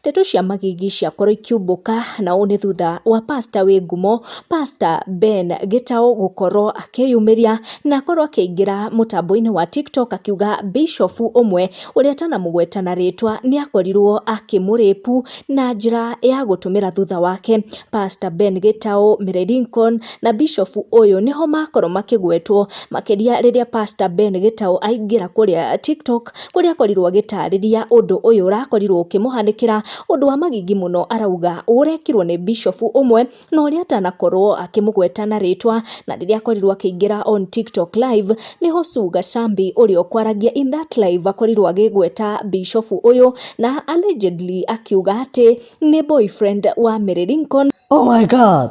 Ndeto cia Magigi ciakorwo ikiumbũka na ũũ nĩ thutha wa pastor wĩ ngumo pastor Ben Gĩtaũ gũkorwo akĩyumĩria na akorwo akĩingĩra mũtambo-inĩ wa TikTok akiuga bishofu ũmwe ũrĩa atanamũgweta na rĩtwa nĩ akorirwo akĩmũrĩpu na njĩra ya gũtũmĩra thutha wake. Pastor Ben Gĩtaũ, Mary Lincoln na bishofu ũyũ nĩho makorwo makĩgwetwo makĩria rĩrĩa pastor Ben Gĩtaũ aingĩra kũrĩa TikTok kũrĩa akorirwo agĩtarĩria ũndũ ũyũ ũrakorirwo ũkĩmũhanĩkĩra, ũndũ wa magigi mũno arauga ũrekirwo nĩ Bishop ũmwe, na ũrĩa atanakorwo akĩmũgweta na rĩtwa, na rĩrĩa akorirwo akĩingĩra on TikTok live, nĩho Sue Gachambi ũrĩa ũkwaragia in that live akorirwo agĩgweta Bishop ũyũ, na allegedly akiuga atĩ nĩ boyfriend wa Mary Lincoln. Oh my God!